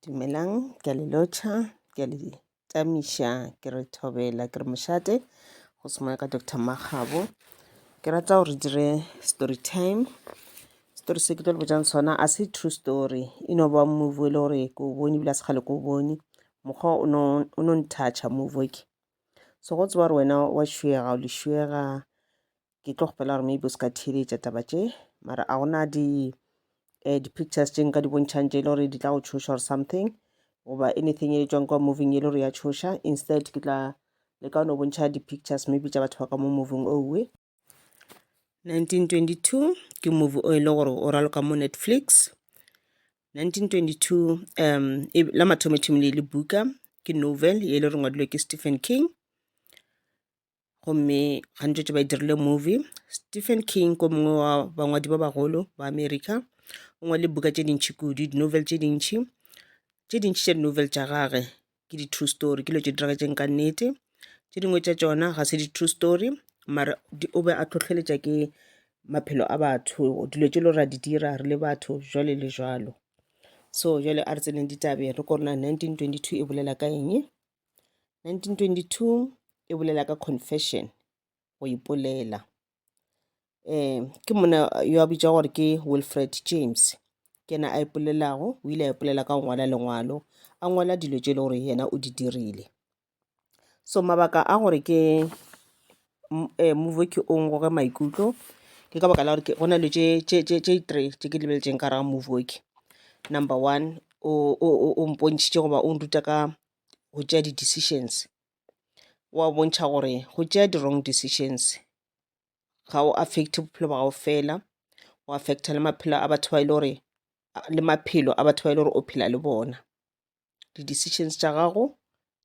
Dumelang, ke a le lotšha, ke a le tamiša, ke re thobela, ke re mošate, go semoya ka Doctor Makgabo. Ke rata gore dire story time. Story se ke tlo le botšang sona, a se true story, e no ba movie e le gore ke o bone ebile a se kgale ke o bone. Mokgwa o no o no nthatšha movie o ke. So go tseba gore wena wa šuega, o le šuega, ke tlo kgopela gore maybe o se ka theeletša taba tše mara a gona di um di-pictures tše nka di bontšhang tše e le gore di tla go tšhoša or something goba anything e tswang kwa moving e le gore ya tšhoša instead ke tla le ka one o bontšha di-pictures maybe tša batho ba ka mo moving owe 1922 ke movie o e le gore o raloka mo netflix 1922 um e, la mathomothomile le buka ke novel e le re ngwadilwe ke stephen king gomme gantši tše ba e dirile movie stephen king ko mongwe wa bangwadi ba bagolo ba america o ngwale buka tše dintšhi kudu di-novel tše dintšhi tše dintšhi tša di-novel tša gage ke di-true story ke lo tše diragetseng ka nnete tše dingwe tša tšona ga se di-true story mara o be a tlhotlheletša ke maphelo a batho dilo tše lo ra di dira re le batho jwale le jwalo so jwale a re tseneng ditabe re korona 1922 e bolela ka eng 1922 e bolela ka confession go ipolela um ke mona yo a bitša gore ke wilfred james ke yena a ipolelago o ile a ipolela ka go ngwala lengwalo a ngwala dilo tše e le gore yena o di dirile so mabaka a gore ke M- eh, move ke o ngoge maikutlo ke ka baka la gore ke- go na le tše tše- tše- tše three tše ke lebeletšeng ka raga move ke number one o o- o- o mpontšhitše goba o nruta ka go tšea di-decisions wa bontšha gore go tšea di-wrong decisions ga o affect bophelo ba gago fela o affecta le maphelo a batho ba e le gore a- le maphelo a batho ba e le gore o phela le bona di-decisions tša gago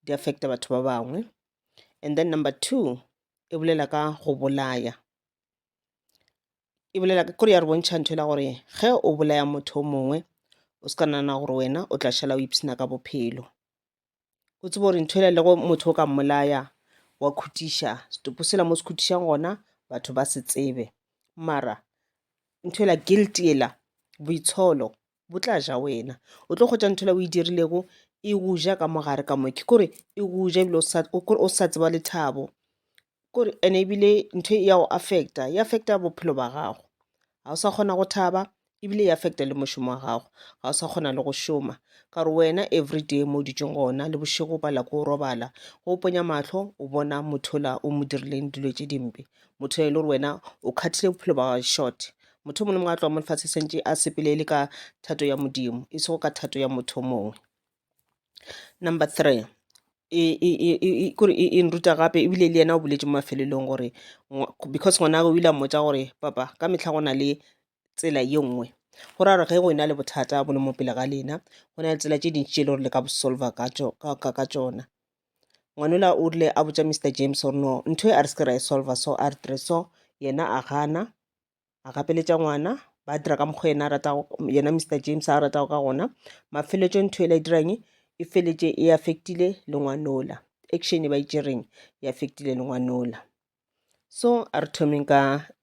di affecta batho ba bangwe and then number two e bolela ka go bolaya e bolela kore ya re bontšha ntho e la gore ge o bolaya motho o mongwe o se ka nana gore wena o tla šala o ipshina ka bophelo o tsebe gore ntho e lego motho o ka mmolaya wa khutiša setopo sela mo se khutišang gona batho ba se tsebe mara ntho ela guilt ela boitsholo bo tla ja wena o tlo kgwetsa ntho la o e dirilego e go ja ka mogare ka moke kore e go ja ebile o sa tseba lethabo kore and ebile ntho e ya go affecta e affecta bophelo ba gago ga o sa kgona go thaba ebile e affecta le mošomo wa gago ga o sa kgona le go šoma ka gore wena everyday mo o ditšong gona le bošego o pala ko o robala go ponya mahlo o bona motho la o mo dirileng dilo tše dimpe motho e le gore wena o kgathile bophelo ba gago short Motho mongwe le mongwe a tloga mo lefatshe sentše a sepele e le ka thato ya modimo e sego ka thato ya motho mongwe number three kore e nruta gape ebile le yena o boletse mo mafelelong gore because ngwana o ile a mmotsa gore papa ka mehla go na le tsela ye nngwe go ra gore ge go ena le bothata bo le mo pele ga lena go na le tsela tše dintši tše e le gore le ka bo solver ka tsona ngwanola o rile a botsa mr james gore no ntho e a re se ke ra e solver so a re tire so yena a gana a gapeletša ngwana ba dira ka mokgwa yena a ratago yena mr james a ratago ka gona mafeletšo ntho e la e dirang e feletše e affectile le ngwanola action e ba e tšereng e affectile le ngwanola so a re thomeng ka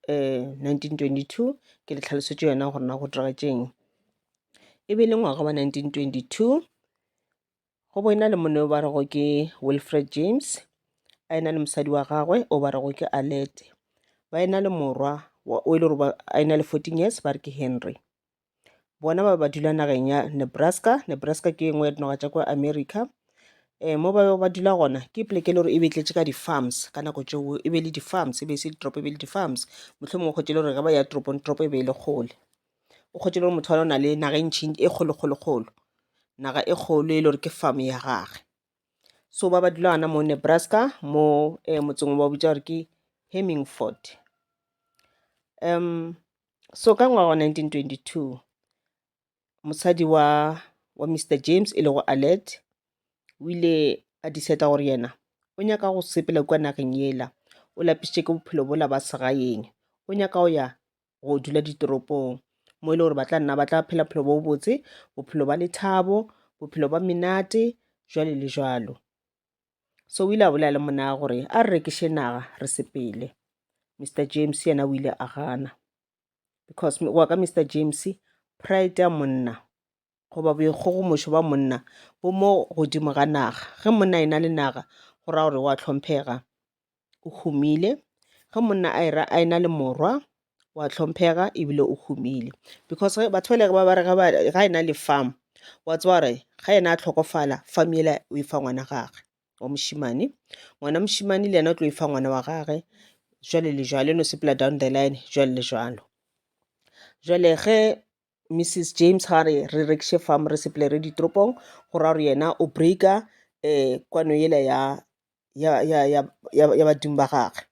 eh, 1922 ke le tlhalosetše yona gore na go diragatšeng e be le ngwaga wa 1922 Go bo e na le monna yo ba rego ke Wilfred James, a e na le mosadi wa gagwe o ba rego ke Alette. Ba e na le morwa wa- o e le gore ba- a e na le 14 years ba re ke Henry. Bona ba be ba dula nageng ya Nebraska. Nebraska ke e nngwe ya dinoga tša kwa America. Eh, mo ba bego ba dula gona ke poleke e le gore e be e tletše ka di-farms ka nako tšeo e be e le di-farms e be e se ditoropo e be e le di-farms mohlomongwe kgotše e le gore ge ba ya toropong toropo e be e le kgole. o kgwetše le gore motho wa o na le naga e ntšhi e kgolokgolokgolo naga e kgolo e le gore ke farm ya gage so ba ba dula gana mo nebraska mo eh, motseng ba bitsa gore ke hemmingford um so ka ngwaga wa 1922 mosadi wa wa mr james e lego alert o ile a diseta gore yena o nyaka go sepela kua nageng yela o lapisitše ke bophelo bola ba segaeng o nyaka go ya go dula ditoropong mo e le gore ba tla nna ba tla phela bophelo bo botse bophelo ba lethabo bophelo ba menate jwale le jwalo so o ile a bolela le mona gore a re rekiše naga re sepele mr james yena o ile a gana because wa ka mr james pride ya monna goba boikgogomošo bja monna bo mo godimo ga naga ge monna e na le naga go raya gore wa tlhomphega o humile ge monna a era a e na le morwa wa tlhomphega ebile o humile because batho ba le ba bare ga e na le farm wa tseba gore ga ena a tlhokofala farm yela o e fa ngwana gagwe wa mošimane ngwana mošimane le yena o tlo e fa ngwana wa gagwe jwale le jwale no sepela down the line jwale le jwalo jwale ge Mrs James ga re re rekiše farm re sepele re ditoropong go ra gore yena o breaker um kwano yela ya ya ya ya ya ya badimo ba gagwe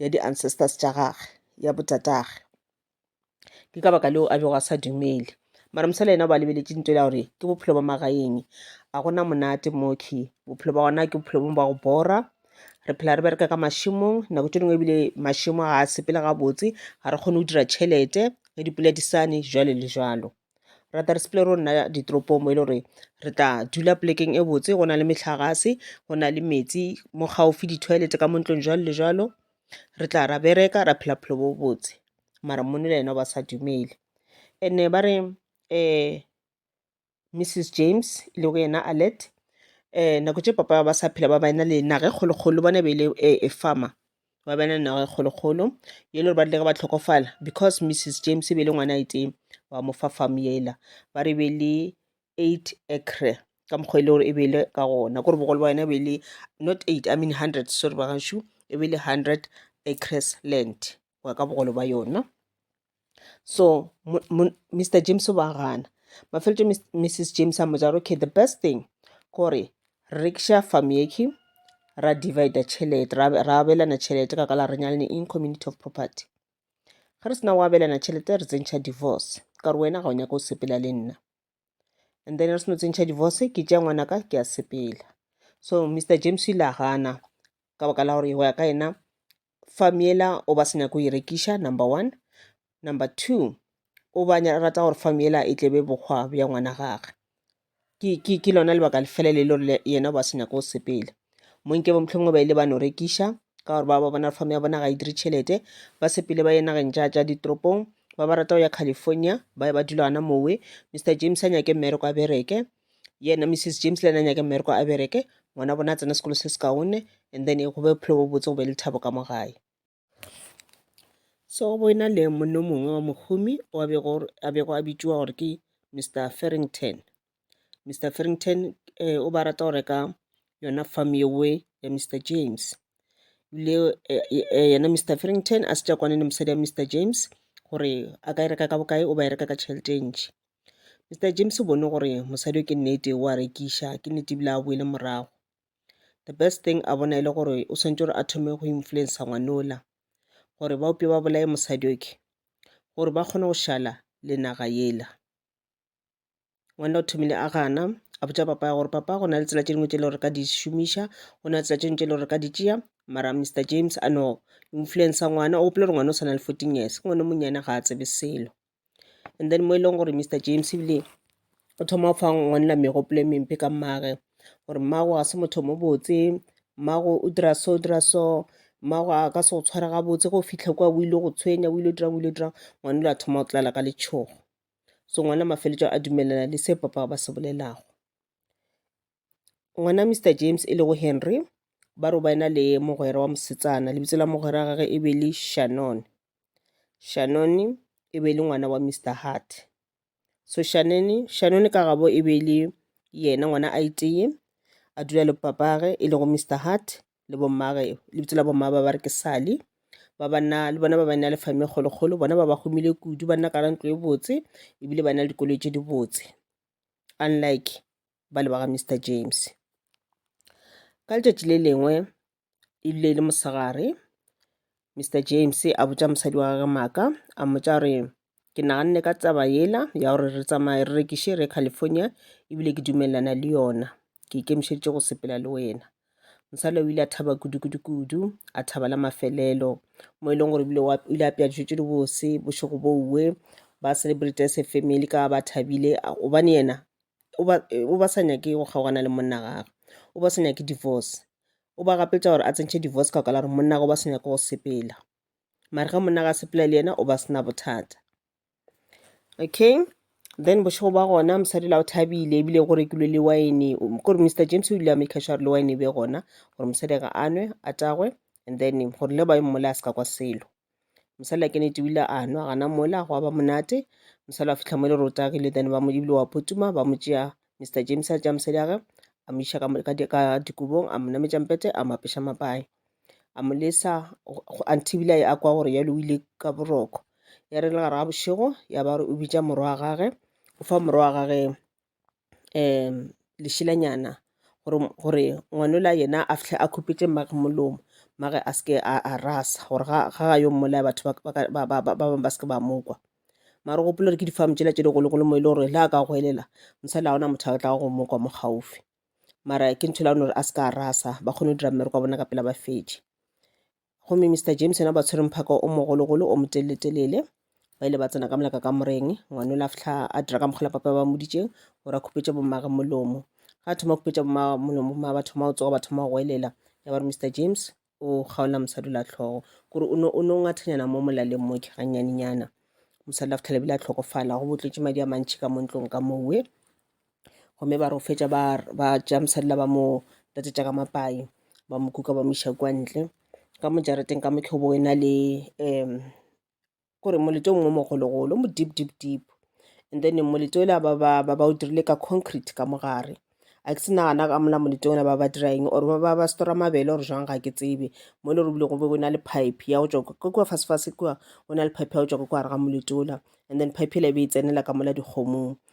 ya di-ancestors tša gagwe ya botatagwe ke ka baka leo a bego a sa dumele mara mosala yena o ba lebeletše ntho ela gore ke bophelo ba magaeng a gona monate mokhwi bophelo ba gona ke bophelo bo ba go bora re phela re bereka ka mašemong nako tše dingwe ebile mašemo ga a sepele gabotse ga re kgone go dira tšhelete ge dipula di sane jalo le jalo rata re sepele ro nna ditoropong mo e le gore re tla dula polekeng e botse go na le metlhagase go na le metsi mo gaufi di-toilet ka mo ntlong jalo le jalo re tla ra bereka ra phela phelo bo botse mara monna le yena ba sa dumele and-e ba re um Mrs James e lego yena Allet, um nako tše papa ba sa phela ba ba ena le naga e kgolokgolo, bona e be e le a farmer, ba ba ena le naga e kgolokgolo, e le gore ba rile ge ba hlokofala, because Mrs James e be e le ngwana a itee, ba mo fa farm yela, ba re e be e le eight acre, ka mokgwa e le gore e be e le ka gona, kore bogolo bja yona e be e le not eight, I mean hundred, sorry ba gašo, e be e le hundred acres land, go ya ka bogolo bja yona. so mr james o ba gana mafeletše mrs james a mo jara okay the best thing gore re kša farm yeke ra divide tšhelete ra abelana tšhelete ka kala re nyalane in community of property ge re sena go abelana tšhelete re tsentšha divorce ka gore wena ga o nyaka o sepela le nna and then re seno tsentšha divorce ke tša ngwana ka ke a sepela so mr james ile a gana ka baka la gore go ya ka yena farm yela o ba se nyaka go e rekiša number one number two o ba rata gore farm yela e tlebe bokgwa bja ngwana gage ke, ke, ke lona lebaka lefele le le gore yena o ba se nyaka go sepela monke bo mohlomongwe ba ile ba no rekiša ka gore ba ba bona farm ya bona ga e dire tšhelete ba sepele ba ye nageng ja ja ditoropong ba ba rata go ya california ba ye ba dula gana mowe mr james a nyake mmereko a bereke yena mrs james le ena nyake mmereko a bereke ngwana bona a tsena sekolo se se kaone and then go be bophelo bo botse go be le thabo ka mo gae so go ena le monna mongwe wa mohumi a bego a bitšiwa gore ke mr farrington mr farrington eh, o ba rata go reka yona farm yewe ya mr james le eh, eh, yena mr farrington a se tša kwane le mosadi ya mr james gore a ka e reka ka bokae o ba e reka ka tšhelete e ntši Mister James o bone gore mosadi yo ke nnete o a rekiša, ke nnete ebile ha a boele morago. The best thing a bona e le gore o swanetše gore a thome go influencer ngwana ola gore ba upše ba bolaye mosadi yoke gore ba kgone go šala le naga yela. Ngwana o thomile a gana a botša papa gore, Papa go na le tsela tše dingwe tše e le gore re ka di šomiša, go na le tsela tše dingwe tše e le gore re ka di tšea. Mara Mister James a no influencer ngwana, o gopola gore ngwana o sa na le fourteen years, ke ngwana o monnyane ga a tsebe selo. And then mo e leng gore Mister James ebile o thoma go fa ngwanna megopolo e mempe ka mmaagwe gore mmago ga se motho mo botse, mmago o dira so, o dira so, mmago a ka se go tshware ga botse ge o fitlha kwa o ile go tshwenya, o ile go dirang, o ile go dirang. Ngwana o ile a thoma go tlala ka letšhogo. So ngwana mafeletšo a dumelelana le se papa ba se bolelago. ngwana Mr James e lego Henry ba robaena le mogwera wa mosetsana lebitso la mogwera gage e be le Shannon Shannon e be le ngwana wa Mr Hart so Shannon Shannon ka gabo e be le yena ngwana a iteye a dula le papage e lego Mr Hart le bommage lebitso la bomma ba ba re ke Sally ba banna le bona ba ba na le fame kgolokgolo bona ba ba humile kudu ba nna ka ra ntlo e botse ebile ba na le dikoloi tse di botse unlike ba le ba ga Mister James. Ka letšatši le lengwe e rile e le mosegare, Mister James a botša mosadi wa gagwe Maaka a mmotša gore, ke naganne ka taba yela ya gore re tsamaye re rekiše re ye California ebile ke dumelelana le yona, ke ikemišeditše go sepela le wena. Mosadi o ile a thaba kudu kudu kudu, a thaba la mafelelo mo e leng gore ebile o ile a apea dijo tše dibose, bošego bouwe ba celebrate as a family ka ba thabile gobane yena o ba o ba sa nyake go kgaogana le monna wa gagwe, o ba sa nyake divorce. O ba gapetša gore a tsentšhe divorce ka gore monna wa gagwe o ba sa nyake go sepela. Mare ge monna wa gagwe a sepela le yena o ba sena bothata. Okay, then bošego ba gona mosadi la o thabile ebile go rekilwe le wine. Kore Mister James o ile a maker sure gore le wine e be gona gore mosadi a nwe a tagwe and then gore le ba e mmolaya a se ka kwa selo. mosadi a kenete o ile a nwa gana mola go ba monate mosadi a fitlha mo le rotagile then ba mo ebile wa photuma ba mo tšea mr james a tšea mosadi age a mo iša ka dikobong a mo nametša mpete a mo apeša mapae a mo lesa antibile a kwa gore ya lowile ka boroko ya re le gare ga bošego ya ba o bitša morwa wa gage o fa morwa wa gage um lešelanyana gore gore ngwanola yena a fitlhe a khupetše mmage molomo mmage a seke a a rasa gore ga ga ga yo mmolaya batho ba ba ka- ba ba ba ba bangwe ba seke ba mokwa mara o gopola gore ke difamu tšela tše digologolo mo e le gore le a ka goelela mosala gona motho a tlago go mokwa mo gaufi mara ke ntho e leng gore a seke a rasa ba kgone go dira mmereko wa bona ka pela ba fetše gomme Mister James yena ba tshwere mphaka o mogologolo o motelele-telele ba ile ba tsena ka molaka ka moreng ngwane o la fihla a dira ka mokgola papa ba moditšeng gore a khupetša bommage molomo ga thoma go khupetša bommage molomo ma ba thoma go tsoga ba thoma go goelela ya ba re Mister James o kgaola mosadi la tlhogo kore o ne o ngathanyana mo molaleng mo ke ganyanenyana mosadi la fihla lebile a tlhokofala go botlotše madi a mantšhi ka mo ntlong ka mowe gomme ba re go fetša ba ba tšea mosadi la ba mo tlatšetša ka mapai ba mo kuka ba mo iša kwa ntle ka mo jarateng ka mokho bo ena le um kore molete o mongwe o mogologolo o mo deep deep deep and then molete o la ba ba ba ba o dirile ka concrete ka mo gare a ke se nagana ka mola molete ona ba ba dira eng or ba ba ba stora mabele or jwang ga ke tsebe mo e le gore ebile go be go na le pipe ya go tšwa ko kwa fase fase kwa go na le pipe ya go tšwa ko kwa gare ga molete ola and then pipe ela e be e tsenela ka mola dikgomong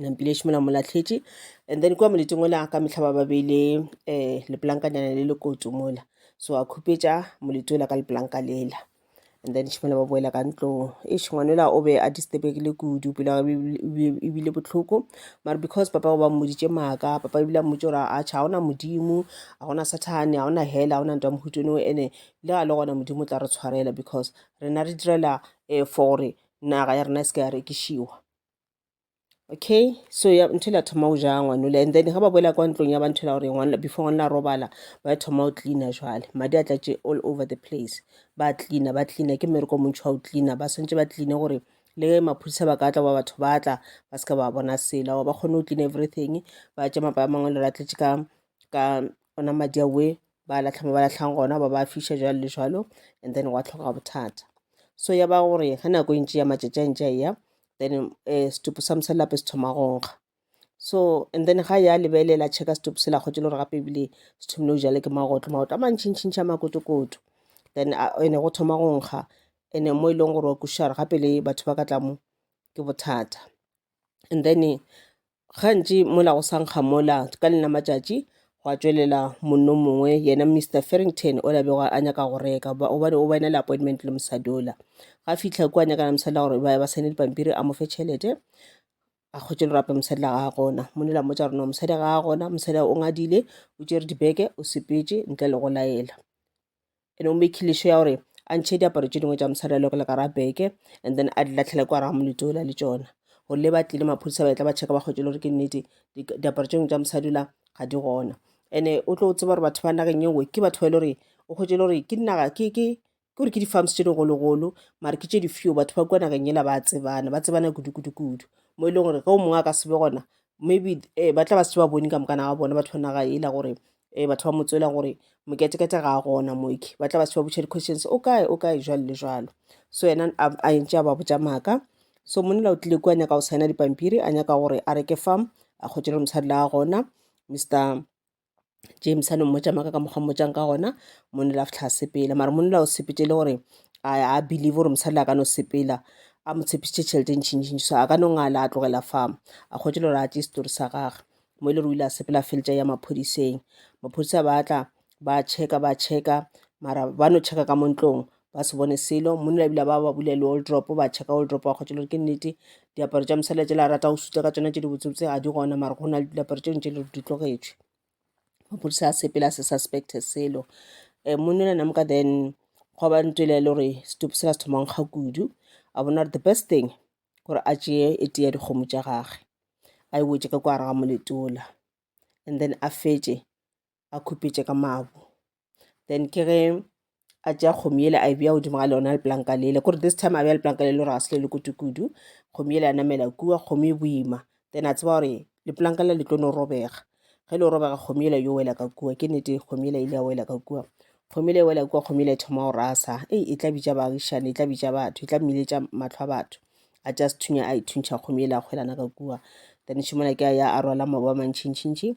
nampileši mola mo latlhetše and then kua moleting ola ka mehla ba ba beile um eh, lepolankanyana le lekoto mola so a khupetša moleti ola ka lepolanka lela and then šimola ba boela ka ntlong eš ngwanola o be a disturbegile kudu pelo ebile botlhoko mare because papa o ba mmoditše maaka papa ebile a mmotse gore a tšha gona modimo ga gona sathane ga gona hela ga gona nto ya mohutone o ene le ga le gona modimo o tla re tshwarela because rena re direla um for gore naga ya rena e se ka ya rekišiwa okay so ya ntho la thoma go ja ngwanole and then ga ba boela kwa ntlong ya ba ntho la gore ngwana before ngwana robala ba thoma go cleana jwale madi a tlatše all over the place ba cleana ba cleana ke mmereko montšhi wa go cleana ba swantse ba cleane gore le maphodisa ba ka tla ba batho ba tla ba se ka ba bona sela wa ba kgone go clean everything ba tša mapa a mangwe le ratletše ka ka ona madi a we ba latlha mo ba latlhang gona ba ba fiša jalo le jalo and then wa tlhoka bothata so ya ba gore ga nako e ntši ya matšatši a ntši a ya then um setupu sa mosadi lape se thoma go nkga so and then ga ya lebelela checka setupu se la kgwetse le gore gape ebile se thomile go jale ke magotlo magotlo a mantšhintšhintšhi a makotokoto then ene go thoma go nkga ene mo e leng gore wa kušara gape le batho ba ka tla mo ke bothata and then Gantši mola go sa nkga mola, ka lena matšatši, gwa tšwelela monno mongwe, yena Mister Farrington ola bego a nyaka go reka, goba- gobane o ba ena le appointment le mosadi ola. Ga fihla kua, a nyakana le mosadi la gore ba ba saene dipampiri, a mo fe tšhelete, a hwetše lorape mosadi la gagwe gona. Monna ola mmotša gore no mosadi ga a gona, mosadi o ngadile, o tšere dibeke, o sepetše ntle le go laela. ene o mekhileše ya gore a ntšhe diaparo tše dingwe tša mosadi a le go le gara beke and then a di latlhele kwa raga molito ola le tšona gore le ba tlile maphodisa ba etla ba checka ba kgwetse le gore ke nnete diaparo tše dingwe tša mosadi ola ga di gona ene o tlo tseba gore batho ba nageng ye nngwe ke batho ba e le gore o kgwetse le gore ke dinaga ke ke gore ke di-farms tše digologolo mare ke tše di-few batho ba kua nageng ela ba tsebana ba tsebana kudu-kudu-kudu mo e leng gore ge o mongwe a ka sebe gona maybe um ba tla ba se ba bone ka moka na ba bona batho ba naga ela gore um batho ba motswela gore moketekete ga a gona moke ba tla ba se ba botšha di-questions o kae o kae jwalo le jwalo so yena a ntse a ba botša maaka so monela o tlile kua nyaka go signa dipampiri a nyaka gore a reke farm a kgotšele mosadi la gona mr James a no mmotša maaka ka mokgwa mmotšang ka gona monna la fitlha sepela mara monna o sepetse le gore a believe gore mosadi la ka no sepela a mo tshepišitše tšhelete ntšhintšhintši so a ka no ngala a tlogela farm a kgotse le gore a tše setori sa gage mo e le re o ile a sepela feletša ya maphodiseng maphodisa ba tla ba checka ba checka mara ba no checka ka mo ntlong ba se bone selo monna ebile ba ba bule le old drop ba checka old drop ba kgotse lore ke nnete diaparo tša mosela tšela rata go suta ka tsona tše dibotsebotse ga di gona mara go na le diaparo tše ntše le di tlogetšwe maphodisa a sepela se suspect selo um monna le namka then go ba ntwele le gore setupu sela se thoma nkga kudu a bona gore the best thing gore a tšeye e tea dikgomo tša gage a e wetše ka kwa gare ga moletola and then a fetše a khupetše ka mabu then ke ge a tšea kgomo yele a e bja godimo ga leona lepolanka lele kore this time a bja lepolanka lele gore ga se le le kudu-kudu kgomo yele a namela kua kgomo e boima then a tseba gore lepolanka le le tlo no robega ge le robega kgomo yele yo wela ka kua ke nete kgomo yele ile ya wela ka kua kgomo yele e wela kua kgomo yele e thoma go rasa ei e tla bitša baagišane e tla bitša batho e tla mmiletša matlho a batho a tša sethunya a ithuntšha kgomo yele a kgwelana ka kua then šimona ke a ya a rwala maoba mantšhintšhintšhi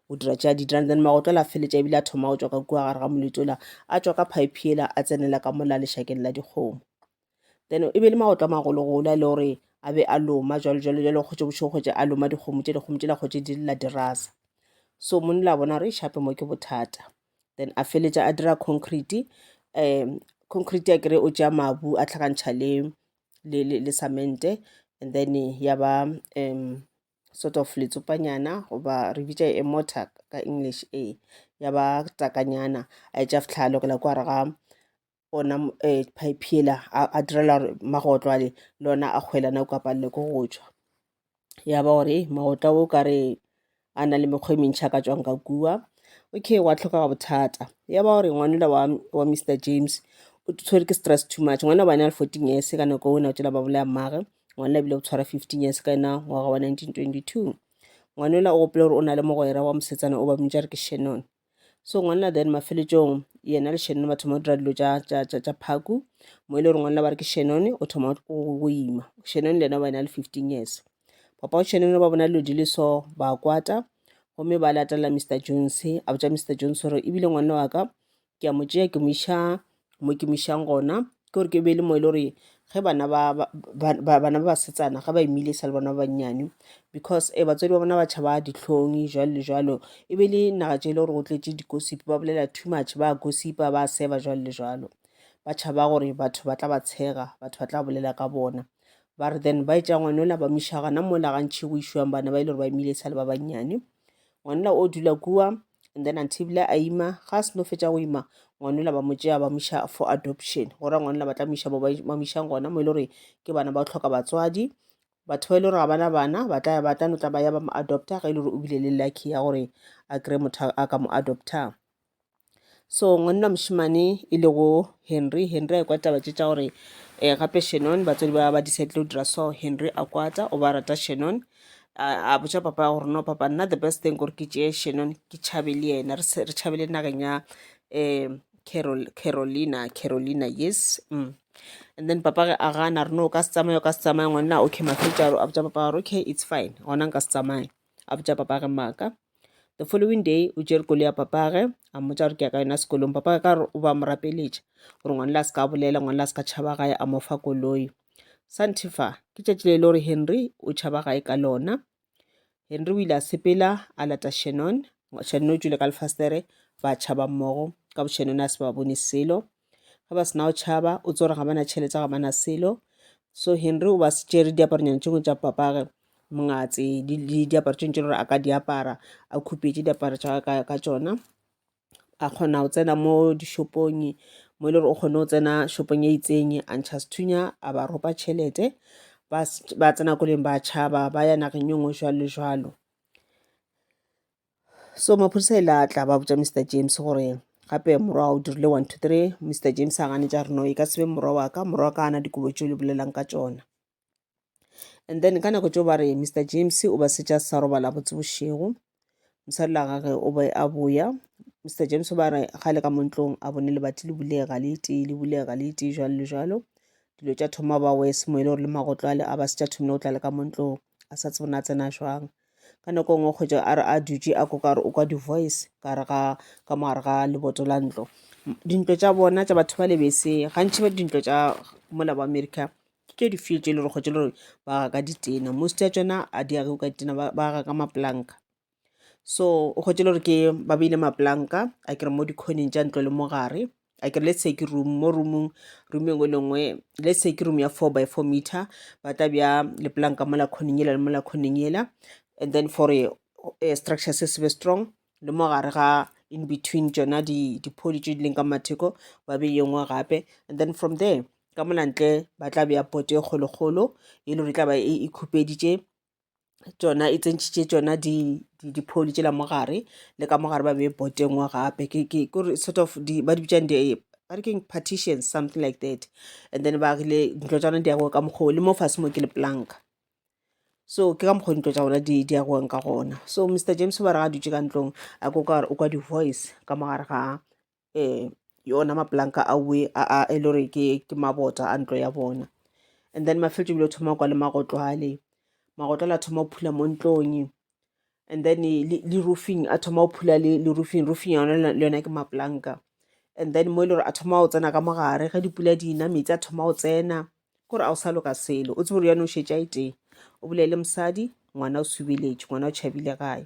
o dira tša didrang then magoto la feletša ebile a thoma go tswa ka kua gare ga moletso la a tswa ka pipe ela a tsenela ka mola lešakeng la dikgomo then e be le magoto a magologolo a e le gore a be a loma jalo jalo jalo kgotse bošego kgotse a loma dikgomo tše dikgomo tše la kgotse di lela dirasa so mone la bona re e shape mo ke bothata then a feletša a dira concrete um concrete ya kere o tšea mabu a tlhakantšha le le le le samente and then ya ba um sort of letsopanyana goba re bitša e mota ka english e ya ba takanyana a etša fitlha a lokela kwa re ga ona um eh, pipe yela a direla gore magotlo ale le ona a kgwelana o kapalele ko go tšwa ya ba gore magotlo o ka re a na le mekgwa e mentšhi a ka tswang ka kua okay wa tlhoka ga bothata ya ba gore ngwanela wa, wa mr james o tshwere ke stress too much ngwana wa bane a le fourteen years ka nako o ne o tšela ba bolaya mmage Ngwana ebile o tshwara 15 years ka ena ngwaga wa 1922. Ngwanela o gopela gore o na le mogwera wa mosetsana o ba mmitša re ke Shannon. So ngwanela then mafeletšong yena le Shannon ba thoma go dira dilo tša tša tša tša phaku mo e le gore ngwanela ba re ke Shannon o thoma go go ima. Shannon le yena ba ena le 15 years. Papa wa Shannon ba bona dilo di le so ba kwata gomme ba latelela Mr Jones a botša Mr Jones gore ebile ngwanela wa ka ke a mo tšea ke mo iša mo ke mo išang gona ke gore ke be le mo e le gore ge bana ba bana ba basetsana ga ba imile sa le bona ba bannyane because um batswadi ba bona ba tšhaba dihlong jwalo le jwalo e be le naga tše e le gore go tletše dikosipi ba bolela too much ba gosipa ba seba jwalo le jwalo ba tšhaba gore batho ba tla ba tshega batho ba tla bolela ka bona ba re then ba e tša ngwanola ba mo iša gana mola gantšhi go išwang bana ba e le gore ba imile sa le ba bannyane ngwanela o dula kua and then antibile a ima ga a seno fetša go ima ngwanela ba mo tšea ba moša for adoption go ra ngwanela ba tla moša ba mošang gona mo e le gore ke bana ba tlhoka batswadi batho ba e le gore ga bana bana ba tla ba tla no tla ba ya ba mo adopta ga e le gore o bile le lucky ya gore a kry-e motho a ka mo adoptang so ngwanna mošemane e lego henry henry a kwa taba tše tša gore um gape shenon batswadi ba ba decide go dira so henry a kwata o ba rata shenon a botša papa gore no papa nna the best thing gore ke tšeye shenon ke tšhabe le yena re tšhabele nageng ya um carolina carolina yes mm. and then papa ge a gana re no ka se tsamaya o ka se tsamaya ngwanna okay mafetša a botša papa gore okay it's fine gona nka se tsamaya a botša papage maaka the following day o tšere koloi ya papage a mmotša gore ke ya ka yona sekolong papage ka gore o ba mo rapeletša gore ngwana la se ka bolela ngwana la se ka tšhaba gae a mo fa koloi santifa ke tšatši le e le gore henry o tšhaba gae ka lona henry o ile a sepela a lata shannon shannon o tšwile ka lefastere ba tšhaba mmogo ka boshannon a se ba bone selo ge ba sena go tšhaba o tsore ga bana tšhelete ga bana selo so henry o ba se tšere diaparonyana tšengwe tša papage mongatse diaparo tšengwe tše gore a ka di apara a khupetše diaparo tša ka tšona a kgona go tsena mo dishopong mo e le gore o kgone go tsena shopong e itseng a ntšha sethunya a ba ropa tšhelete ba tsena koleng ba tšhaba ba ya nageng e nngwe jalo le jalo so maphodisa e la tla ba botša mr james gore gape morwa wa o dirile one two three mr james a ganetša reno e ka sebe morwa wa ka morwa wa ka ana dikobo tšeo le bolelang ka tšona and then ka nako tšeo ba re mr james o ba setša sa robala botse bošego mosadi la gage o be a boya mr james o ba re ga le ka montlong a bone lebati le bulega le itee le bulega le itee jalo le jalo dilo tša thoma ba wese mo e le gore le magotlo ale a ba se tša thomile go tla le ka montlong a sa tsebona a tsena jwang ka nako nngwe kgwetša a re a dutše a koka gore o kwa di-voice ka re ga ka mo gare ga leboto la ntlo dintlo tša bona tša batho ba lebese gantši ba dintlo tša mola ba america ke tše difio tše e le gore kgwetša le gore ba aga ka ditena most ya tšona a di age ka ditena ba aga ka mapolanka so o kgwetše le gore ke ba beile maplanka a kere mo dikhoning tša ntlo le mo gare a kere let's say ke room mo roomong room engwe le ngwe let's say ke room ya four by four meter ba tla bja leplanka mola khoning yela le mola khoning yela and then for a, a eh, structure se sebe strong le mo gare ga in between tšona diphodi tše di leng ka matheko ba be yengwe gape and then from there ka molantle ba tla bea pote e kgolokgolo e le gore e tla ba e, e khupeditše tšona e tsentšhitše tšona di di pholi tšela mo gare le ka mo gare ba be boteng wa gape ke ke gore sort of di ba di bitšang di ba re keng partition something like that and then ba rile ntlo tša rona di yago ka mokgwa o le mo fase mo ke le planka so ke ka mokgwa dintlo tša rona di di yagoeng ka gona so mr james ba re ga dutše ka ntlong a ko ka gore o kwa di-voice ka mo gare ga um yona mapolanka a we a e le gore ke ke mabota a ntlo ya bona and then mafeletšo bile thoma kwa le magotlo ale magotlo la thoma go phula mo ntlong and then le roofing a thoma go phula le roofing roofing yona le yona ke mapolanka and then mo e le gore a thoma go tsena ka mogare ge dipula di na metsi a thoma go tsena kore a o sa loka selo o tsebe gore yane o šetša e tee o bolele mosadi ngwana o subeletše ngwana o tšhabile gae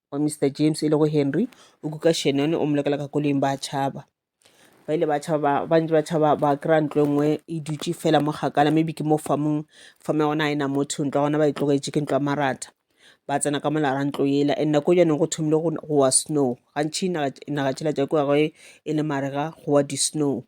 wa Mister James e lego Henry o kuka Shannon o mo lokela ka koleng ba tšhaba ba ile ba tšhaba ba ntse ba tšhaba ba kry-a ntlo e nngwe e dutše fela mo kgakala maybe ke mo famong fame ya gona a e na motho ntlo ya gona ba e tlogetše ke ntlo ya maratha ba tsena ka molara ntlo yela and nako jaanong go thomile go wa snow gantšhi naga tšela tša kua ge e le marega go wa di-snow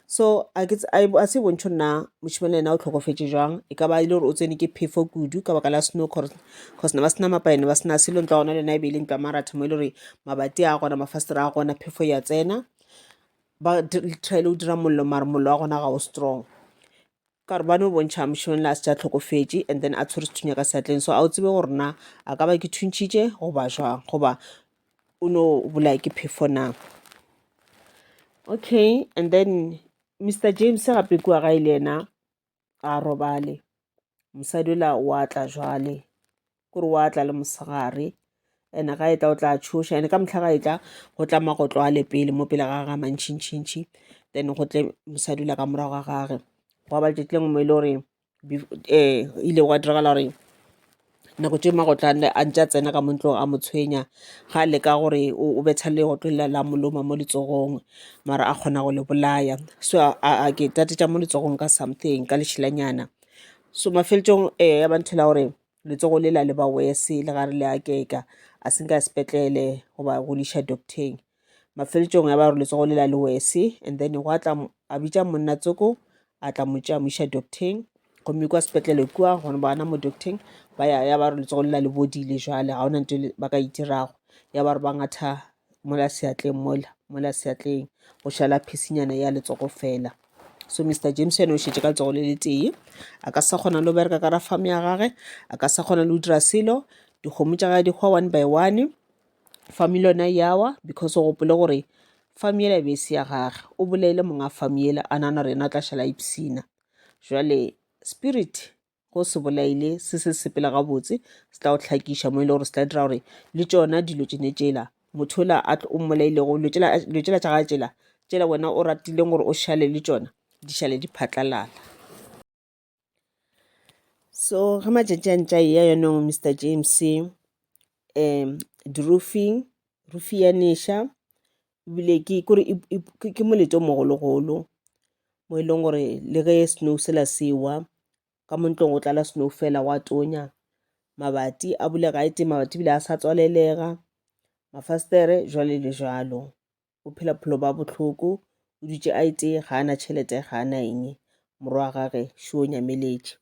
So a ke tse- a e- a se e bontšho nna mošemane yena o tlhokofetše jwang e ka ba e le gore o tsene ke phefo kudu ka baka la snow cause cause ne ba sena mapaene ba sena selo ntlo ya gona le yona e be e le ntlo ya maratha mo e le gore mabati a gona mafastere a gona phefo ya tsena ba trile go dira mollo mare mollo wa gona ga o strong Ka gore ba no bontšha mšoeng le a se tša tlhokofetše and then a tshwere sethunya ka seatleng so a o tsebe gore na a ka ba ke thuntšhitše goba jwang goba o no bolaya ke phefo na okay and then mr james gape kua gae le yena a robale mosadi ola wa tla jwale kore wa tla le mosegare and ga e tla o tla tšhoša and ka mohla ga e tla go tla magotlo a le pele mo pele ga ga mantšhintšhintšhi then go tle mosadi ula ka morago ga gage gwa ba letšatši lengwe mo e le gore um ile gwa diragala gore nako tše magotlo a ntse a tsena ka mo ntlong a mo tshwenya ga a leka gore o betha legotlo lela la mo loma mo letsogong mara a kgona go le bolaya so a ke tate tša mo letsogong ka something ka lešelanyana so mafelelong um ya ba ntho la gore letsogo le la le ba wese le ga re le akeka a se nka sepetlele goba go le iša docteng mafeletšong ya ba gore letsogo le la le wese and then go atla a bitša monna tsoko a tla mo tšea mo iša docteng gomme kwa sepetlele kua gone bana mo docteng ba ya ya ba re letsogo le la le bodile jwale ga ona nto ba ka itirago ya ba re ba ngatha mola seatleng mola mola seatleng go šala phisinyana ya letsogo fela so mr james yone o šetše ka letsogo le letee a ka sa kgona le go bereka ka ra farm ya gage a ka sa kgona le go dira selo dikgomo tša gage di hwa one by one farm le yona yawa because o gopole gore farm yela e be e se ya gage o bolaile monga farm yela a nana gore yena o tla šala ipsina jale spirit go se bolaile se se sepela gabotse se tla go hlakiša mo e le gore se tla dira gore le tšona dilo tšene tšela motho ola a o mmolailego dilo tšela tša ga tšela tšela wena o ratileng gore o šale le tšona di šale di phatlalala so ge matšatši a ntša eya yonong mr james um di-roofing roof ya neša ebile ke kore ke molete o mogologolo mo e leng gore le ge snow sela sewa ka mo ntlong go tlala snow fela wa tonya mabati a bulega e teng mabati ebile a sa tswalelega mafastere jwale le jalo o phela phelo ba bohloko o dutše a ete ga ana tšhelete ga ana eng morwa wa gage šo o nyameletše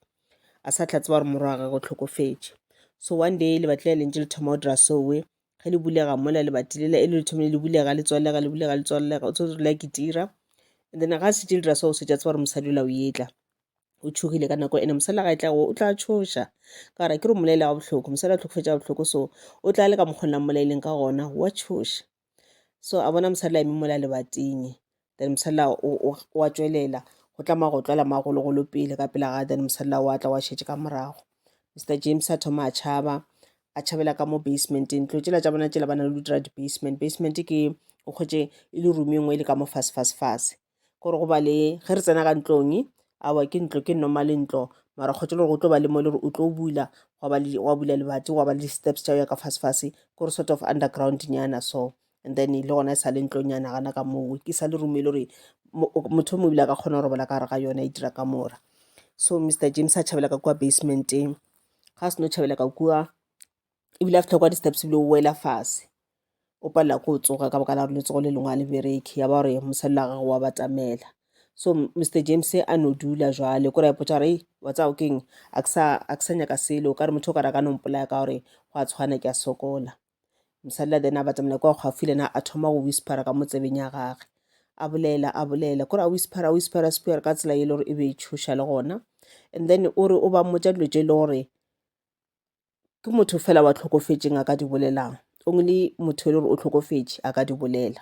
a sa tla tseba gore morwa wa gage o tlhokofetše so one day le batlile lentše le thoma o dira sowe ge le bulega mola lebati lela e le le thomile le bulega le tswalega le bulega le tswalega o tshwanetse rela ke tira and then ga se tše dira seo se tša tseba gore mosadi ola o etla o tšhogile ka nako ene mosadi ga e tla go o tla tšhoša ka gore ke re molaele wa bohloko mosadi a tlhokofetša bohloko so o tla le ka mokgona mmolaeleng ka gona wa tšhoša so a bona mosadi la eme mola lebating then mosela wa tšwelela go tla mago tlwala magologolo pele ka pela ga then mosela wa tla wa šetše ka morago mr james a thoma a tšhaba a tšhabela ka mo basementeng tlo tšela tša bona tšela ba na le dutira di-basement basement ke o kgwetše e le room e nngwe e le ka mo fase fase fase gore go ba le ge re tsena ka ntlong awa ke ntlo ke normale ntlo mara kgotse le gore go tlo ba le mo le gore o tlo bula wa bula lebati wa ba le di-steps tša ya ka fasefase kore sort of underground nyana so and then le gona e sa le ntlonyana gana ka moo ke sa le room e le gore mo- o- motho o mongwe ebile a ka kgona go robala ka gare ga yona e dira ka mora so mr james a tšhabela ka kua basementeng ga a seno tšhabela ka kua ebile a fitlha kwa di-steps ebile o wela fase o palela ko o tsoga ka baka la gore letsogo le lengwe a le bereke ya ba gore mosadi la gagwe wa batamela so M- mr james a no dula jwale kore a ipotsa gore "Ei, wa tsaya o keng a ke sa a ke sa nyaka selo o ka re motho o ka re a ka nompolaya ka gore go a tshwana ke a sokola mosadi la then a batamela kwa kgwafi lena a thoma go whispera ka mo tsebeng ya gage a bolela a bolela kore a whispera a whispera spear ka tsela e le gore e be e tshoša le gona and then o re o ba mmotsa dilo tse e le gore ke motho fela wa tlhokofetseng a ka di bolelang only motho e le gore o tlhokofetse a ka di bolela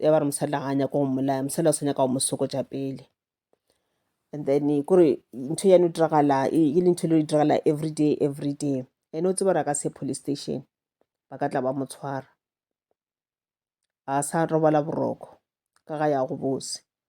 ya ba re mosadi ga a nyako go mmolaya mosadi o sa nyaka go mo sokotša pele and then eh, kore ntho yane o diragala e le ntho e le e diragala every day every day ene o tsebara ka se police station ba ka tla ba mo tshwara a sa robala boroko ka ga ya go bose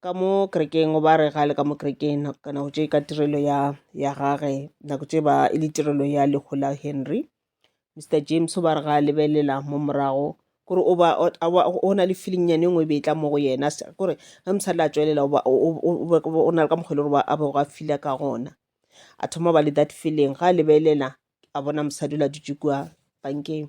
ka mo kerekeng ba re ga le ka mo kerekeng ka nako tše ka tirelo ya ya gage nako tše ba e le tirelo ya lehu la Henry. Mister James ba re ga a lebelela mo morago kore o ba o na le feeling nyane nngwe e be e tla mo go yena kore ge mosadi la tšwelela o na le ka mokgwa e le gore a bego a fila ka gona a thoma ba le that feeling ga a lebelela a bona mosadi o la dutše kua bankeng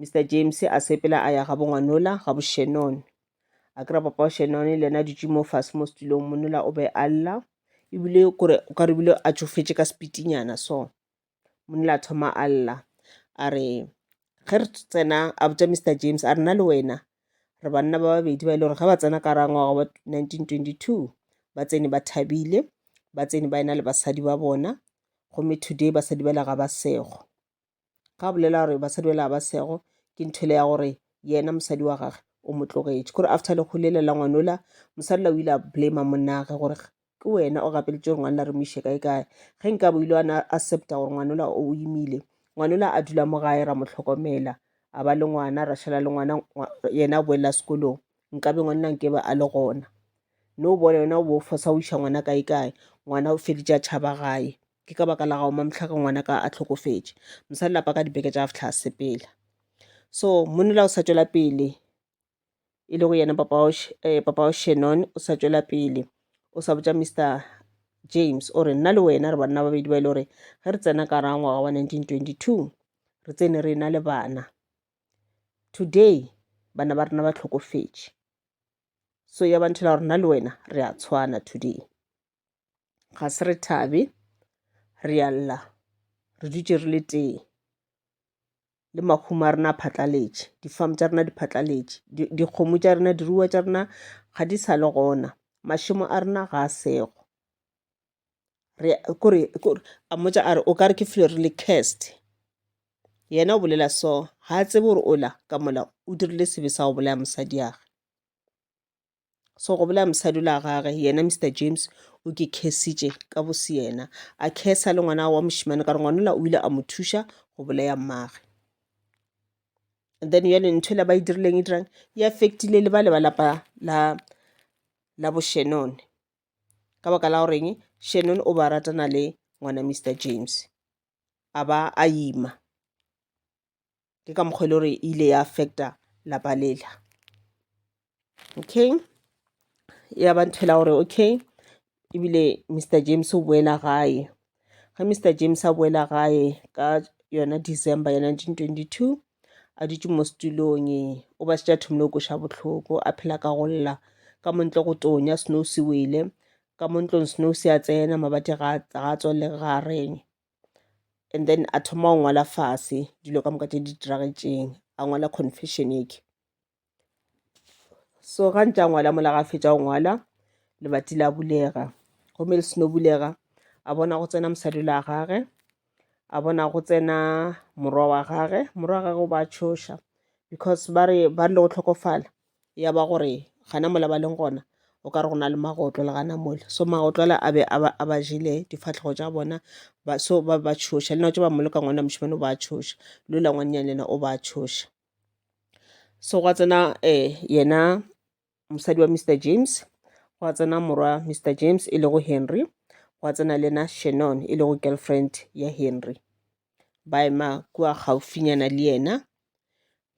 Mister James a sepela a ya ga bongwanola ga boshenon a kry-a papa wa shenon le yena a dutše mo fase mo setulong monola o be a lla ebile kore o ka rebile a tšofetše ka sepitinyana so monola a thoma a lla a re ge re tsena a botša Mister James a rena le wena re banna ba babedi ba e le gore ge ba tsena ka rangwaga wa 1922 ba tsene ba thabile ba tsene ba ena le basadi ba bona gomme today basadi ba le ga ba sego ga bolela gore basadi bela ba sego ke nthwele ya gore yena mosadi wa gage o mo tlogetše kore after lekgo lela la ngwanola mosadi la o ile a blame monnage gore ke wena o gapeletše gore ngwana la re mo ise kae kae ge nka bo ile ana accepta gore ngwanola o imile ngwanola a dula mo gae ra mo tlhokomela a ba le ngwana ra šala le ngwana yena a boelela sekolong nkabe ngwanna nke ba a le gona no bone yona o bo fosa o iša ngwana kae kae ngwana o feditše a tšhaba gae Ke ka baka la gago Mamhlaka ngwanaka a hlokofetše mosadi lapa ka dibeke tša fihla a sepela. So monna o sa tšwela pele e le go yena papa wa papa wa Shannon o sa tšwela pele o sa botša Mister James o re nna le wena re banna babedi ba e le gore ge re tsena ka raga ngwaga wa 1922 re tsene re na le bana today bana ba rena ba tlhokofetše so ya ba nthela gore nna le wena re a tshwana today ga se re thabe re ya lla re dutše re le tee le mahumo a rena a phatlaletše difamu tša rena di phatlaletše dikgomo tša rena diruwa tša rena ga di sa le gona mašemo a rena ga a sego kore a mmotsa a re o ka re ke file re le cast yena o bolela so ga a tsebe gore o la ka mola o dirile sebe sa go bolaya mosadi yage so go bolela mosadi la gage yena mr james o ke khesitše ka bose yena a khesa le ngwana wa mošimane ka re ngwanola o ile a mo thuša go bolaya mmage and then yale ntho e la ba e dirileng e dirang e affectile le ba le ba lapa la la boshenone ka baka la goreng shannon o ba ratana le ngwana mr james a ba a ima ke ka mokgwa e le gore e ile ya affecta lapa lela okay ya ba ntho la gore okay ebile mr james o boela gae ge mr james a boela gae ka yona december ya 1922 a dutše mo setulong o ba setša thomile go koša bohloko a phela ka go lla ka montle go tonya snow se wele ka mo ntlong snow se a tsena mabate ga a tswalele ga a reng and then a thoma go ngwala fase dilo ka moka tše di diragetšeng a ngwala confession eke so ga ntse a ngwala mola ga fetša go ngwala lebati la bulega gomme le seno bulega a bona go tsena mosadi la gage a bona go tsena morwa wa gage morwa wa gage o ba tšhoša because ba re ba rile go tlhokofala ya ba gore gana mola ba leng gona o ka re go na le magotlo le gana mola so magotlo ale a be a ba jele difatlhego tša bona so ba ba tšhoša le nako tše ba mmoloka ngwana mošemane o ba tšhoša lo la ngwannyane yena o ba tšhoša so gwa tsena um yena mosadi wa mr james gwa tsena morwa mr james e lego henry gwa tsena le yena shannon e lego girlfriend ya henry ba ema kua gaufinyana le yena.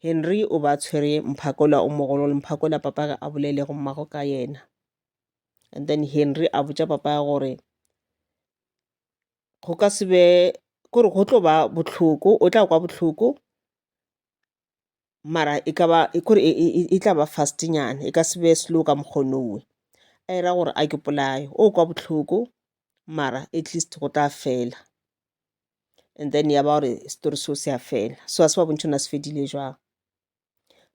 Henry o ba tshwere mphakola o mogolo le mphakola papagwe a bolelego mmago ka yena. And then Henry a botša papa gore go ka se be, kore go tlo ba bohloko, o tla kwa bohloko mara e ka ba ke gore e tla ba fast-nyana, e ka se be slow ka mokgwa o nowe. A e ra gore a ke polaye, o kwa bohloko mara at least go tla fela. And then ya ba gore setori seo se a fela, so ga se ba bontšhe gore na se fedile jwang.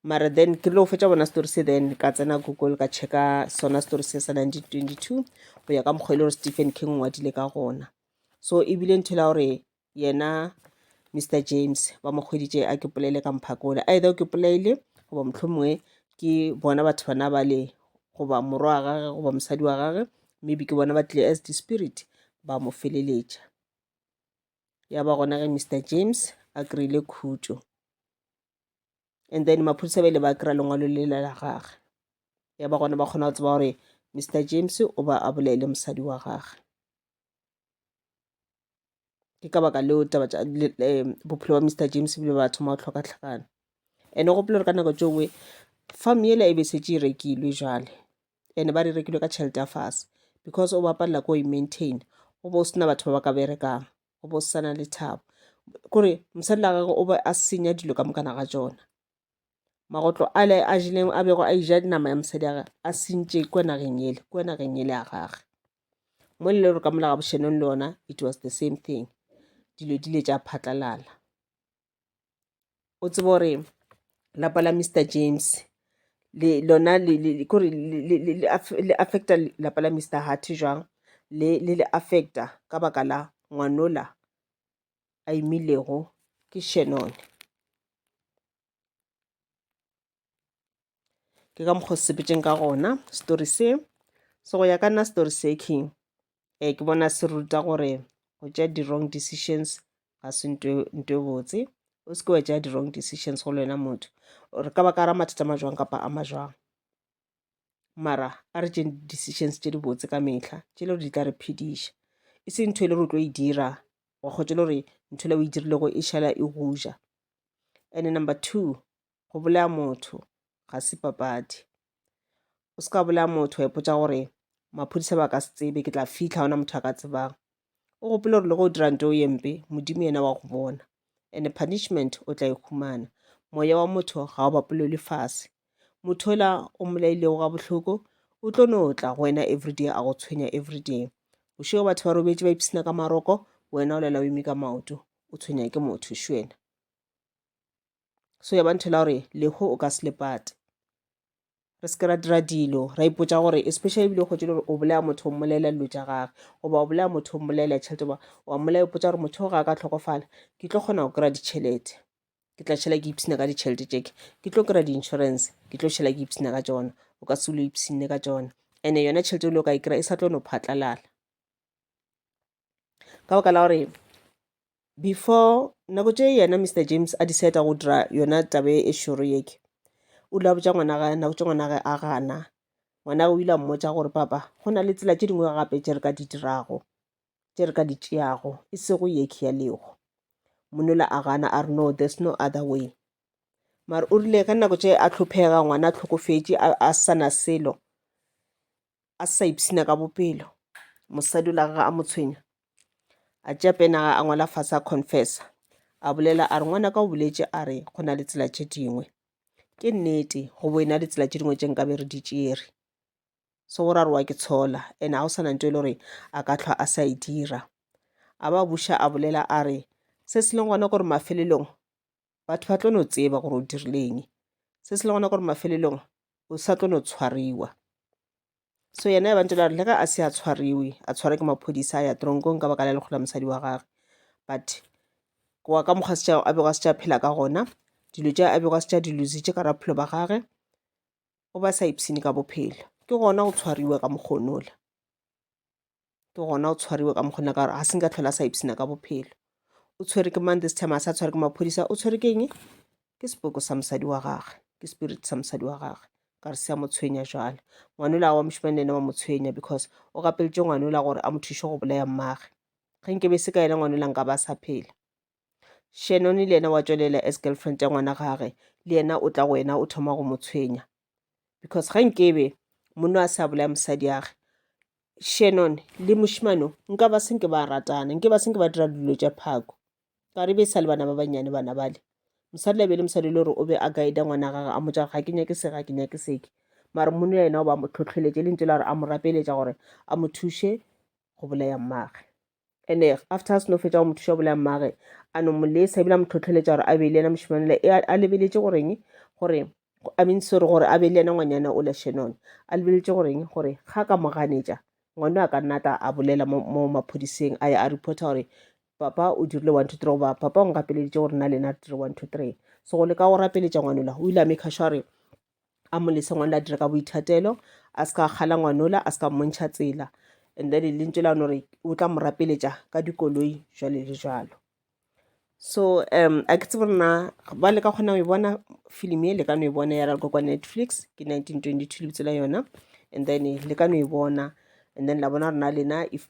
Mara then ke rile go fetša go bona setori se then ka tsena Google ka check-a sona setori se sa nineteen twenty-two go ya ka mokgwa e le gore Stephen King o ngwadile ka gona. So ebile ntho e le ya gore yena Mister James ba mo kgweditše a ke polele ka mphako ole either o ke polele goba mohlomongwe ke bona batho bana ba le goba morwa wa gage goba mosadi wa gage maybe ke bona ba tlile as di-spirit ba mo feleletša ya ba gona ge Mister James a kry-ile khutšo and then maphodisa ba ile ba kry-a lengwalo le la gage ya ba gona ba kgona go tseba gore Mister James o ba a bolele mosadi wa gage. ke ka baka leo taba tša bophelo bja Mister James bo ile ba thoma go hloka hlakana. And o gopole gore ka nako tše dingwe farm yela e be e šetše e rekilwe bjale, and-e ba re e rekilwe ka tšhelete ya fase because o ba palela ke go e maintainer, go be go se na batho ba ba ka berekang, go be go sa na lethabo. K'ore mosadi la gagwe o be a senya dilo ka moka naga tšona. magotlo ale a jeleng a bego a ija nama ya mosadi ya gage a sentše kwa nageng yele kwa nageng yele ya gage mo le gore ka mola ga bošenong le yona it was the same thing dilo di le tša phatlalala o tsebe gore lapa la mr james le lona kore le affecta lapa la mr hart jwang le le affecta ka baka la ngwanola a imilego ke Shannon. Ke ka mokgwa sepetšeng ka gona story se so go ya ka nna story se king eh ke bona se ruta gore go tšea di-wrong decisions ga se nto e botse o se ke wa tšea di-wrong decisions go le wena motho or ka baka ra mathata ma jwang kapa a ma jwang mara a re tšeng decisions tše di botse ka mehla tše le gore di tla re phediša e se ntho e le gore o tlo e dira wa kgotse le gore ntho le o e dirilego e šala e goja and number two go bolaya motho ga se papadi o se ka bolaya motho wa ipotsa gore maphodisa ba ka se tsebe ke tla fitlha gona motho a ka tsebang o gopole gore le go dira nto ye mpe modimo yena wa go bona and punishment o tla e humana moya wa motho ga o bapolelwe fase motho ola o molailego ga bohloko o tlo no tla go wena everyday a go tshwenya everyday bošego batho ba robetše ba ipsina ka maroko wena o lela o eme ka maoto o tshwenya ke motho šwena so ya banthela gore leho o ka se lepate re se ke ra dira dilo ra ipotsa gore especially ebile kgotse gore o bolaya motho o mmolelela dilo tša gage goba o bolaya motho o mmolelela tšhelete goba wa mmolaya ipotsa gore motho o ga a ka tlhokofala ke tlo kgona go kry-a ditšhelete ke tla šhela ke ipshina ka ditšhelete tšeke ke tlo kry-a di-insurance ke tlo šhela ke ipshina ka tsona o ka se o lo ipshinne ka tsona and-e yona tšhelete e le o ka e kry-a e sa tlo no phatlalala ka baka la gore before nako tše yena Mister James a decide-a go dira yona taba e šoro yeke, o ile a botša ngwana gae nako tše ngwana gae a gana. Ngwana o ile a mmotša gore papa go na le tsela tše dingwe gape tše re ka di dirago, tše re ka di tšeago e sego yeke ya lego. Monola a gana a re no there's no other way. Mare o rile ka nako tše a tlhophega ngwana a tlhokofetše a sa na selo, a sa ipshina ka bopelo mosadi o la gage a mo tshwenya a tšea penaga a ngwala fase a confessa a bolela a re ngwana ka o boletse a re go na le tsela tše dingwe ke nnete go bo e na le tsela tše dingwe tše nkabe re di tšere se go rarowa ke tshola ene ga o sa na nto e le gore a ka tlhwa a sa e dira a ba buša a bolela a re se se leng gona gore mafelelong batho ba tlo no tseba gore o dirileng se se le gona gore mafelelong o sa tlo no tshwariwa so yena ya bantse la re le ga a se a tshwariwe a tshwara ke maphodisa a ya tronkong ka baka la lekgola mosadi wa gage but goa ka mokgwa setšha a bego a setšha phela ka gona dilo tša a bego a setšha dilositše ka raphelo ba gage o ba sa ipshine ka bophelo ke gona go tshwariwa ka mokgonola ke gona o tshwariwe ka mokgona ka gore ga se nka tlhola a sa ipsena ka bophelo o tshwere ke mang this time a sa tshware ke maphodisa o tshwere ke eng ke sepoko sa mosadi wa gage ke spirit sa mosadi wa gage ka re se a mo tshwenya jale ngwanola wa mošimane ene wa mo tshwenya because o gapeletše ngwanola gore a mo thuše go bolaya mmage ge nke be se ka yena ngwanola nka ba sa phela shenone le yena wa tšwelela as girlfriend ya ngwana gage le yena o tla go wena o thoma go mo tshwenya because ga nkebe monna a sa bolaya mosadi yage shannon le mošimano nka ba senke ba ratana nke ba senke ba dira dilo tša phako ka re be sa le bana ba bannyane bana bale mosadi la be le mosadi le gore o be a guida ngwana gage a motsa gore ga ke nyake se ga ke nyake seke mare mone ya yena o ba mo tlhotlheletše le ntse la gore a mo rapeletša gore a mo thuše go bolaya mmage and after a seno fetša go mothuša bolaya mmage a no mo lesa ebile a mo tlhotlheletša gore a be le yena mošemanele e a lebeletše goreng gore i mean sore gore a be le yena ngwanyana o la shanone a lebeletše goreng gore ga ka mo ganetša ngwane a ka nna tla a bolela mo maphodiseng a ya a reporta gore papa o dirile one two three goba papa o nkapeleditše gore na lena re dire one two three so go leka go rapeletša ngwanola o ile a make sure a mo lese ngwana a dire ka boithatelo a se ka kgala ngwanola a se ka mmontšha tsela and then lentso la no re o tla mo rapeletša ka dikoloi jwale le jalo so um a ke tsebo rena ba le ka kgona go e bona film e le ka no e bona ya ralko kwa netflix ke 1922 lebitso la yona and then le ka no e bona and then la bona rena lena if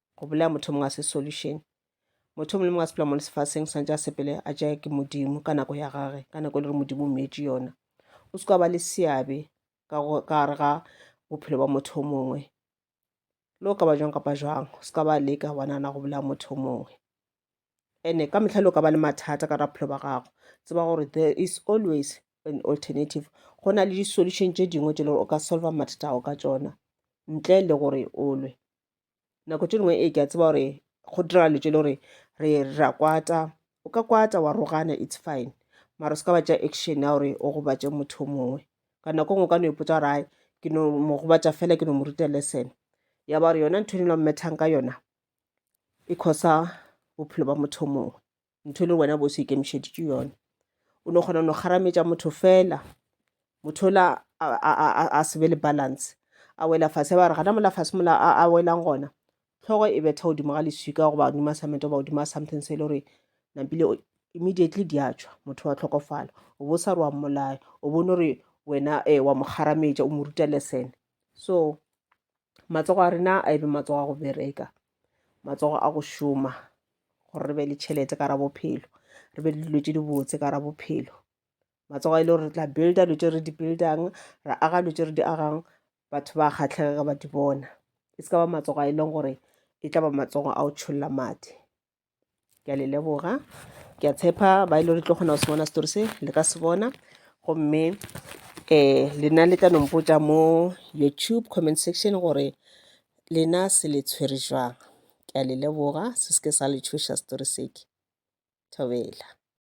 go bolaya motho mongwe a se solution motho mongwe le mongwe a sepela mo lefaseng swanetse a sepele a jae ke modimo ka nako ya gage ka nako e le gore modimo o meetse yona o se ka ba le seabe ka gare ga bophelo ba motho o mongwe le o ka ba jwang kapa jwang o se ka ba leka wa nana go bolaya motho o mongwe ene ka metlha le o ka ba le mathata ka bophelo ba gago tseba gore there is always an alternative go na le di-solution tše dingwe tše le gore o ka solva mathata ao ka tsona ntle le gore o lwe nako tše dingwe ee ke a tseba gore go dira le tše le gore re ra kwata o ka kwata wa rogana it's fine mara o se ka ba tša action ya gore o gobatše motho mongwe ka nako ngwe o ka no ipotsa gore ai ke no mo gobatša fela ke no mo ruta lesson ya ba gore yona ntho e ne lo mmethang ka yona e khosa bophelo ba motho mongwe ntho e le wena bo se ikemišeditše yone o no kgona no kgarametša motho fela motho ola a se be le balance a wela fase ba re gana mola fase mola a welang gona tlhogo e betha godimo ga leswika goba godimo a samete goba godimo a something se e le gore nampile immediately di a tšwa motho wa tlhokofala o bo sa re wa mmolaya o bone gore wena um wa mo kgarametša o mo ruta lesene so Matsogo a rena a ebe matsogo a go bereka, matsogo a go šoma gore re be le tšhelete ka ra bophelo, re be le dilo tše dibotse ka ra bophelo. Matsogo a ile gore re tla builda dilo tše re di buildang, ra aga dilo tše re di agang, batho ba kgahlege ge ba di bona. E se ka ba matsogo a e leng gore e tla ba matsogo a go tšholla madi. ke a le leboga ke a tshepa ba e le gore tlo kgona go se bona setori se le ka se bona gomme um lena le tla nompotsa mo youtube comment section gore lena se le tshwere jwang ke a le leboga se se ke sa le tshoša setori seke thobela